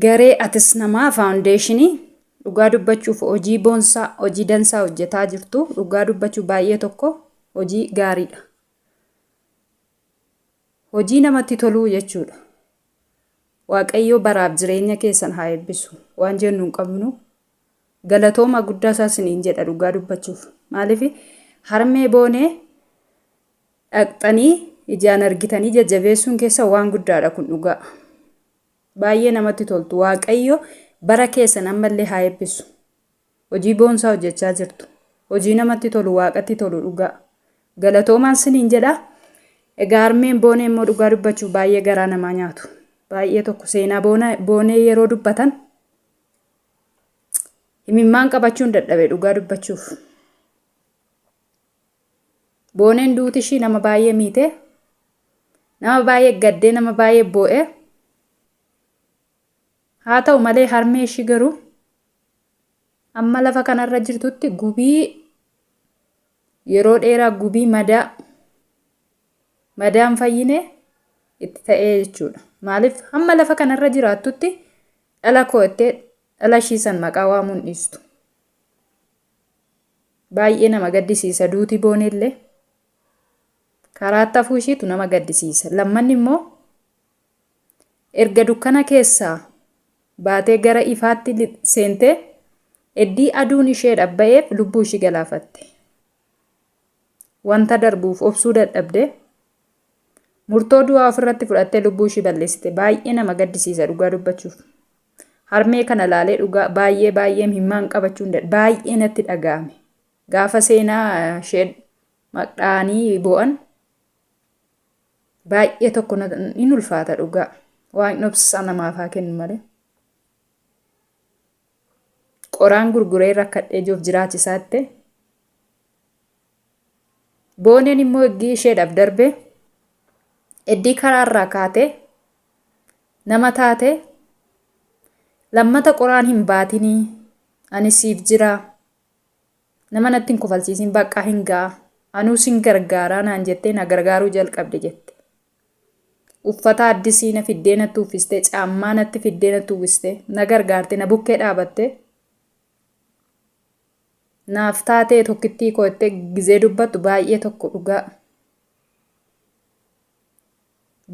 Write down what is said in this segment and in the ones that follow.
Garee Atis Namaa Faawundeeshinii Dhugaa dubbachuuf hojii boonsaa, hojii dansaa hojjetaa jirtu. Dhugaa dubbachuu baay'ee tokko hojii gaariidha. Hojii namatti toluu jechuudha. Waaqayyoo baraaf jireenya keessan haa eebbisu. Waan jennu hin qabnu. Galatooma guddaa isaa isiniin jedha dhugaa dubbachuuf. Maaliif harmee boonee dhaqxanii ijaan argitanii jajjabeessuun keessa waan guddaadha kun dhugaa baay'ee namatti toltu waaqayyo bara keessan ammallee haa eebbisu hojii boonsaa hojjechaa jirtu hojii namatti tolu waaqatti tolu dhugaa galatoomaan siniin jedha egaa armeen boonee immoo dhugaa dubbachuu baay'ee garaa namaa nyaatu baay'ee tokko seenaa boonee yeroo dubbatan himimmaan qabachuun dadhabe dhugaa dubbachuuf. Booneen duuti ishii nama baay'ee miite. Nama baay'ee gaddee nama baay'ee boo'e. Haa ta'u malee harmee ishii garuu amma lafa kanarra jirtutti gubii yeroo dheeraa gubii madaa madaan fayyine itti ta'ee jechuudha. Maaliif hamma lafa kanarra jiraattutti dhala koo jettee dhala ishii san maqaa waamuun dhiistu. Baay'ee nama gaddisiisa duuti booneellee karaatti hafuu ishiitu nama gaddisiisa. Lammanni immoo erga dukkana keessaa baatee gara ifaatti li- seentee eddii aduun ishee dhabba'eef lubbuu ishii galaafatte. Wanta darbuuf obsuu dadhabde murtoo du'aa ofirratti fudhattee lubbuu ishii balleessite. Baay'ee nama gaddisiisa dhugaa dubbachuuf. Harmee kana laalee dhugaa baay'ee baay'ee imimmaan qabachuu hin dandeenye. Baay'ee natti dhaga'ame. Gaafa seenaa ishee maqdhaanii boo'an baay'ee tokko hin ulfaata dhugaa. Waaqni obsaa namaaf haa kennu malee. Qoraan gurguree rakkadhee jiruuf jiraachisaa jettee Booneen immoo eggii isheedhaaf darbe eddii karaarraa kaate nama taate lammata qoraan hin baatinii ani siif jira nama natti hin kofalsiisin baqqaa hin ga'a anuu sin gargaaraa naan jettee na gargaaruu jalqabde jette. Uffata addisii na fiddee natti uffistee caammaa natti fiddee natti uwwistee na gargaarte na bukkee dhaabattee. Naaf taatee tokkittii koo jettee gizee dubbattu baay'ee tokko dhugaa.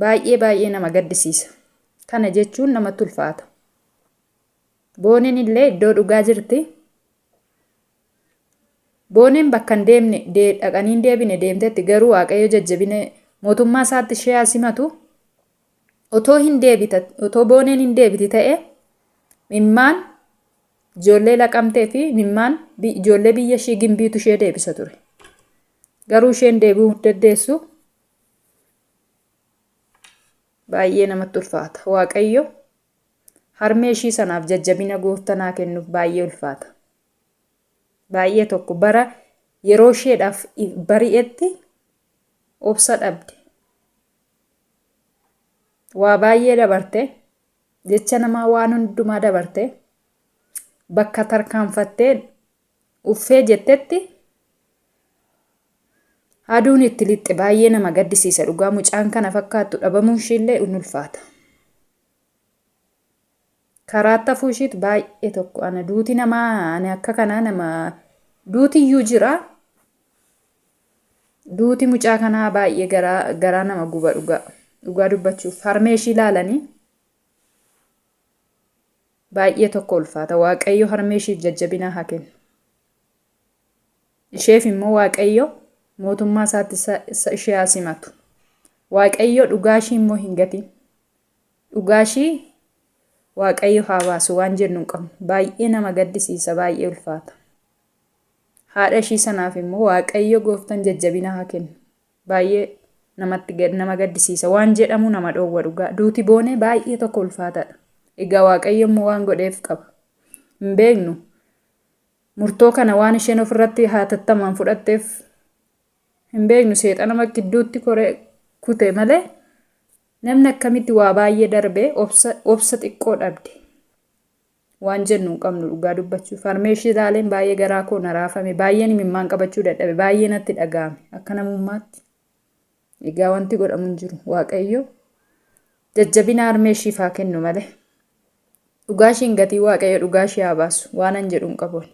Baay'ee baay'ee nama gaddisiisa. Kana jechuun namatti ulfaata. Booneen illee iddoo dhugaa jirti. Booneen bakka hin deemne dhaqanii hin deebine deemtetti garuu waaqayyo jajjabina mootummaa isaatti ishee haa simatu. Otoo hin deebita otoo booneen hin deebiti ta'e mimmaan Ijoollee laqamtee fi mimmaan ijoollee biyya ishii gimbiitu ishee deebisa ture. Garuu isheen deebi'uu dandeessu baay'ee namatti ulfaata. Waaqayyo harmee ishii sanaaf jajjabina gooftanaa kennuuf baay'ee ulfaata. Baay'ee tokko bara yeroo isheedhaaf bari'etti obsa dhabde. Waa baay'ee dabarte. Jecha namaa waan hundumaa dabarte bakka tarkaanfattee uffee jettetti aduun itti lixxe baay'ee nama gaddisiisa dhugaa mucaan kana fakkaattu dhabamuun ishiillee in ulfaata. Karaa tafuu ishiitu baay'ee tokko ana duuti namaa ani akka kanaa nama duutiyyuu jira Duuti mucaa kanaa baay'ee garaa garaa nama guba dhugaa. Dhugaa dubbachuuf harmee ishii ilaalanii baay'ee tokko ulfaata. Waaqayyo harmee ishiif jajjabinaa haa kennu. Isheef immoo Waaqayyo mootummaa isaatti isa- isa- ishee haa simatu. Waaqayyo dhugaa ishii immoo hin gatiin. Dhugaa ishii Waaqayyo haa baasu waan jennu hin qabnu. Baay'ee nama gaddisiisa, baay'ee ulfaata. Haadha ishii sanaaf immoo waaqayyo gooftan jajjabina haa kennu. Baay'ee namatti nama gaddisiisa. Waan jedhamuu nama dhoowwa dhugaa. Duuti boonee baay'ee tokko ulfaataadha. Egaa waaqayyo immoo waan godheef qaba. Hin beeknu. Murtoo kana waan isheen ofirratti hatattamaan fudhatteef hin beeknu seexanuma gidduutti koree kute malee namni akkamitti waa baay'ee darbee obsa obsa xiqqoo dhabde. waan jennu hin qabnu dhugaa dubbachuuf harmeeshii ilaaleen baay'ee garaa koo na raafame baay'een imimmaan qabachuu dadhabe baay'ee natti dhaga'ame akka namummaatti egaa wanti godhamu hin jiru waaqayyo jajjabina harmeeshiif haa kennu malee dhugaa ishiin gatii waaqayyo dhugaa ishee haa baasu waanan jedhu hin qabu ani.